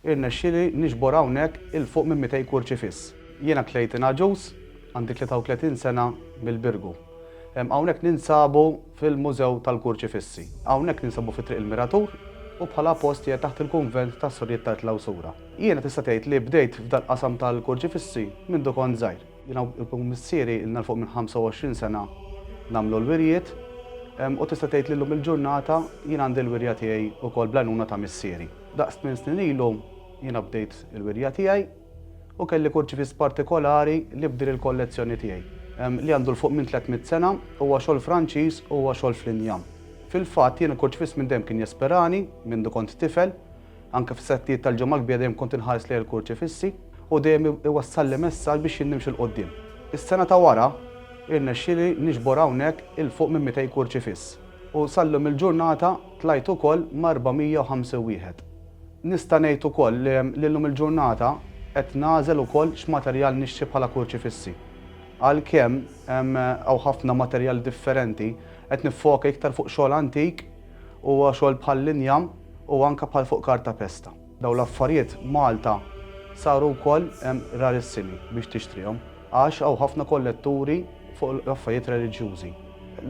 Irnexxieli niġbor hawnhekk 'il fuq minn mitej kurċifiss. Jiena tlejt ingħaġuż, għandi 33 sena mill-Birgu. Hawnhekk ninsabu fil-Mużew tal-Kurċifissi. Hawnhekk ninsabu fi Triq il-Miratur u bħala post qiegħed taħt il-Kunvent tas-Sorijiet tal-Klawsura. Jiena tista' tgħid li bdejt f'dal-qasam tal-kurċifissi mindu kont żgħir. Jiena u missieri ilna 'l fuq minn 25 sena nagħmlu l-wirjiet u tista' tgħid li llum il-ġurnata jien għandi l-wirja tiegħi wkoll bl-għajnuna ta' missieri. Daqs tmien snin ilu, jiena bdejt il-wirja tiegħi u kelli kurċifiss partikolari li bdiel il-kollezzjoni tiegħi, li għandu 'l fuq minn tliet mitt sena, huwa xogħol Franċiż u huwa xogħol fl-injam. Fil-fatt, jien il-kurċifiss minn dejjem kien jesperani, mindu kont tifel. Anke fis-settijiet tal-Ġimgħa l-Kbira dejjem kont inħares lejn il-kurċifissi u dejjem iwassalli messaġġ biex jien nimxi 'l quddiem. Is-sena ta' wara, irnexxieli niġbor hawnhekk 'il fuq minn mitej kurċifiss. U sal-lum il-ġurnata tlajt ukoll ma' 450 wieħed. Nista' ngħid ukoll li llum il-ġurnata qed nagħżel ukoll x'materjal nixtri bħala kurċifissi. Għalkemm hawn ħafna materjali differenti, qed niffoka iktar fuq xogħol antik u xogħol bħall-injam u anke bħal fuq kartapesta. Dawn l-affarijiet Malta saru wkoll rarissimi biex tixtrihom għax hawn ħafna kolletturi fuq l-affarijiet reliġjużi.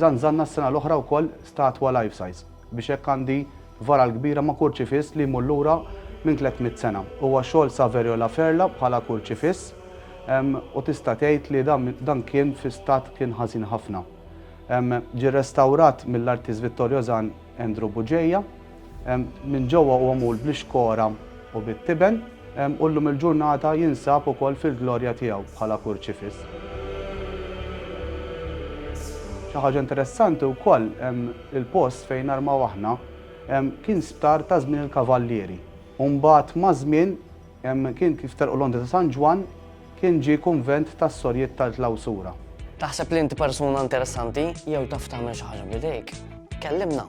Żanżanna s-sena l-oħra wkoll statwa life size biex hekk għandi varal kbira ma' kurċifiss li jmur lura minn tlett mitt sena. Huwa xogħol Saverio La Ferla bħala kurċifiss u tista' tgħid li dan kien fi stat kien ħażin ħafna. Ġie rrestawrat mill-artist Vittorio Zan. Andrew Bugeja, Minn ġewwa huwa mgħul bl-ixkora u bit-tiben, u llum il-ġurnata jinsab ukoll fil-glorja tiegħu bħala kurċifiss. Xi ħaġa interessanti wkoll, il-post fejn narmaw aħna kien sptar ta' żmien il-Kavallieri u mbagħad maż-żmien, Hemm kien kif telqu l-ondi ta' San Ġwann, kien ġie kunvent tas-Sorjiet tal-Klawsura. Taħseb li inti persuna interessanti jew taf tagħmel xi ħaġa b'idejk? Kellimna!